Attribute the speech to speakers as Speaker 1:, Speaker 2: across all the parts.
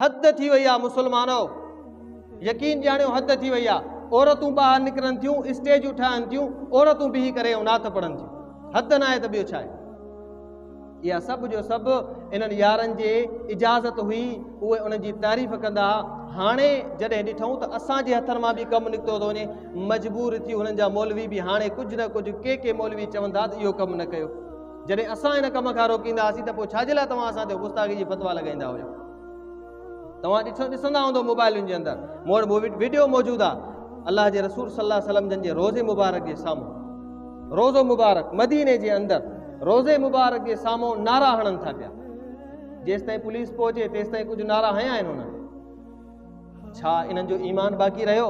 Speaker 1: حد ٿي وئي آ مسلمانو يقين ڄاڻيو حد ٿي وئي آ عورتون ٻاهر نڪرن ٿيون اسٽيجون ٺاهن ٿيون عورتون بيهي ڪري نعت پڙهن ٿيون حد ناهي ته ٻيو ڇا آهي اها سڀ جو سڀ انهن يارن جي اجازت هئي اهي انهن جي تعريف ڪندا هاڻي جڏهن ڏٺون ته اسان جي هٿن مان به ڪم نڪتو ٿو وڃي مجبور ٿي هنن جا مولوي به هاڻي ڪجهه نه ڪجهه ڪي ڪي مولوي چوندا ته اهو ڪم نه ڪيو جڏهن اسان هن ڪم کان روڪيندا هئاسين ته پوء ڇاجي لاء توهان اسان تي غصاغي جي فتوا لڳائيندا هيو توهان ڏسو ڏسندا هوندو موبائلن جي اندر مون وٽ مووي ويڊيو موجود آ الله جي رسول صلي الله وسلم جن جي روزي مبارڪ جي سامهون روزو مبارڪ مديني جي اندر روزي مبارڪ جي سامهون نعرا هڻن ٿا پيا جيستائين پوليس پهچي تيستائين ڪجهه نعرا هنيا آهن هنن ڇا انهن جو ايمان باقي رهيو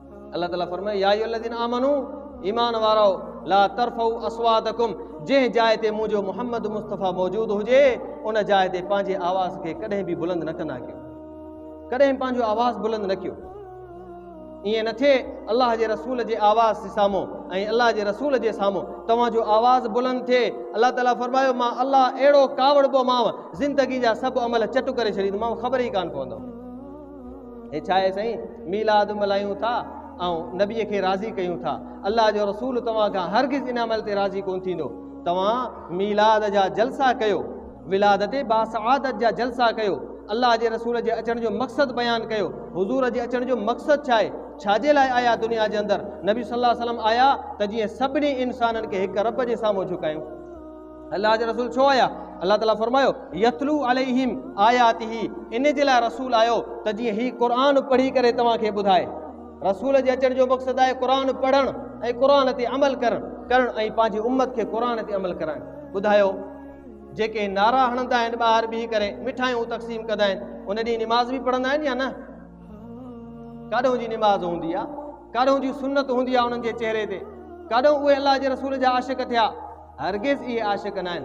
Speaker 1: الله تعالي فرمايو يا ايها الذين آمنو ايمان وارو لا ترفعوا اصواتكم جنهن جاء تي منهنجو محمد مصطفيٰ موجود هجي ان جاء تي پنهنجي آواز کي ڪڏهن به بلند نه ڪندا ڪيو ڪڏهن پنهنجو آواز بلند نه ڪيو ائين نه ٿئي الله جي رسول جي آواز جي سامهون ۽ الله جي رسول جي سامهون توهان جو آواز بلند ٿئي الله تعالیٰ فرمايو مان الله اهڙو ڪاوڙبومانو زندگي جا سڀ عمل چٽ ڪري ڇڏيندومانو خبر ئي ڪانه پوندو هي ڇا آهي سائين ميلاد ملهايون ٿا ۽ نبي کي راضي ڪيون ٿا الله جو رسول توهان کان هرگز ان عمل تي راضي ڪون ٿيندو توهان ميلاد جا جلسا ڪيو ولادت باسعادت جا جلسا ڪيو الله جي رسول جي اچڻ جو مقصد بيان ڪيو حضور جي اچڻ جو مقصد ڇا آهي ڇا جي لاء آيا دنيا جي اندر نبي صلي الله عليه وسلم آيا ته جيئن سڀني انسانن کي هڪ رب جي سامهون جھڪايون الله جا رسول ڇو آيا؟ الله تعاليٰ فرمايو، يتلو عليهم آياته، ان جي لاء رسول آيو ته جيئن هي قرآن پڙهي ڪري توهان کي ٻڌائي. رسول جي اچڻ جو مقصد آهي قرآن پڙهڻ ۽ قرآن تي عمل ڪرڻ ڪرڻ ۽ پنهنجي امت کي قرآن تي عمل ڪرائڻ. ٻڌايو، جيڪي نعرا هڻندا آهن ٻاهر بيهي ڪري مٺايون تقسيم ڪندا آهن ان ڏينهن نماز به پڙهندا آهن يا نه؟ ڪاڏهون جي نماز هوندي آهي، ڪاڏهون جي سنت هوندي آهي انهن جي چهري تي، ڪاڏهون اهي الله جي رسول جا عاشق ٿيا. هرگز اهي عاشق ناهن.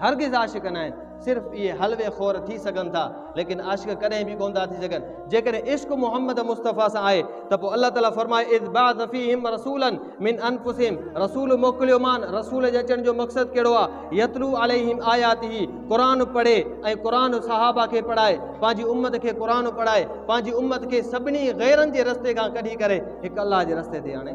Speaker 1: هرگز عاشق ناهن. صرف اهي حلوي خور ٿي سگهن ٿا، ليڪن عاشق ڪڏهن به ڪونه ٿا ٿي سگهن. جيڪڏهن عشق محمد مصطفيٰ سان آهي ته پوء الله تعاليٰ فرمائي، اذ بعث فيهم رسولا من انفسهم رسول موڪليومان، رسول جي اچڻ جو مقصد ڪهڙو آهي، يتلو عليهم آياته قرآن پڙهي ۽ قرآن صحابه کي پڙهائي، پنهنجي امت کي قرآن پڙهائي، پنهنجي امت کي سڀني غيرن جي رستي کان ڪڍي ڪري هڪ الله جي رستي تي آڻي.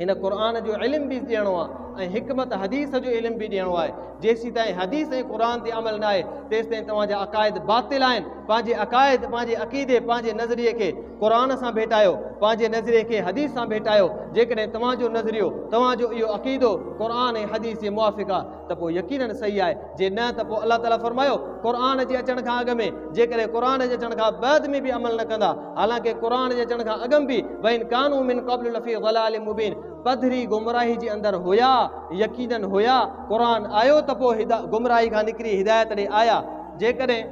Speaker 1: هن قرآن جو علم به ڏيڻو آهي ۽ حڪمت حديث جو علم به ڏيڻو آهي جيسيتائين حديث ۽ قرآن تي عمل نه آهي تيستائين توهان جا عقائد باطل آهن پنهنجي عقائد پنهنجي عقيدي پنهنجي نظريي کي قرآن سان ڀيٽايو پنهنجي نظريي کي حديث سان ڀيٽايو جيڪڏهن توهان جو نظريو توهان جو اهو عقيدو قرآن ۽ حديث جي موافق آهي ته پوء يقينن صحيح آهي، جي نه ته پوء الله تعالي فرمايو، قرآن جي اچڻ کان اڳ ۾، جيڪڏهن قرآن جي اچڻ کان بعد ۾ به عمل نه ڪندا، حالانڪه قرآن جي اچڻ کان اڳم به، وان ڪانوا من قبل لفي ضلال مبين، پڌري گمراهي جي اندر هيا، يقينن هيا، قرآن آيو ته پوء گمراهي کان نڪري هدايت ڏي آيا، جيڪڏهن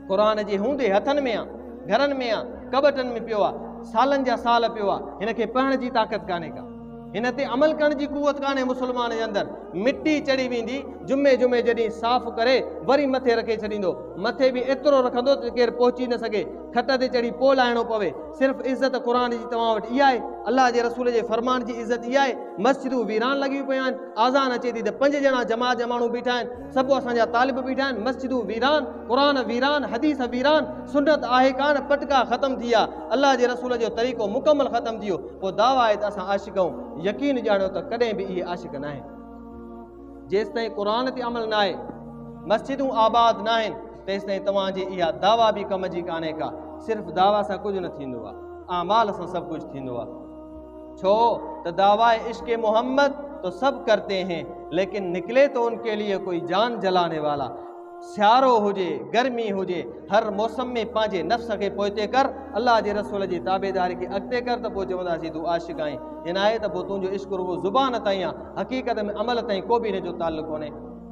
Speaker 1: قرآن جي هوندي هٿن ۾ آ، گهرن ۾ آ، ڪٻٽن ۾ پيو آ، سالن جا سال پيو آ، هن کي پڙهڻ جي طاقت ڪانهي ڪا. هن تي عمل ڪرڻ جي قوت ڪانهي مسلمان جي اندر مٽي چڙهي ويندي جمعي جمعي جڏهن صاف ڪري وري مٿي رکي ڇڏيندو مٿي به ايترو رکندو ته ڪير پهچي نه سگهي کٽ تي چڙهي پوء لاهڻو پوي صرف عزت قرآن جي توهان وٽ اها آهي الله جي رسول جي فرمان جي عزت اها آهي مسجدون ويران لڳيون پيون آهن آزان اچي ٿي ته پنج ڄڻا جماعت جا ماڻهو بيٺا آهن سڀ اسان جا طالب بيٺا آهن مسجدون ويران قرآن ويران حديث ويران سنت آهي ڪانه پٽڪا ختم ٿي ويا الله جي رسول جو طريقو مڪمل ختم ٿي ويو پوء دعويٰ آهي ته اسان عاشق آهيون، يقين ڄاڻيو ته ڪڏهن به اهي عاشق ناهن. جيستائين قرآن تي عمل ناهي، مسجدون آباد ناهن، تيستائين توهان جي اها دعويٰ به ڪم جي ڪانهي ڪا، صرف دعويٰ سان ڪجهه نه ٿيندو آهي، اعمال سان سڀ ڪجهه ٿيندو آهي. ڇو ته دعويٰ عشق محمد تو سب ڪرتي هين، ليڪن نڪلي تو ان ڪي ليي ڪوئي جان جلانے والا. سيارو هجي گرمي هجي هر موسم ۾ پنهنجي نفس کي پوئتي ڪر الله جي رسول جي تابعداري کي اڳتي ڪر ته پوء چونداسين تون عاشق آهين جي ناهي ته پوء تنهنجو عشق رڳو زبان تائين آهي حقيقت ۾ عمل تائين ڪو به هن جو تعلق ڪونهي.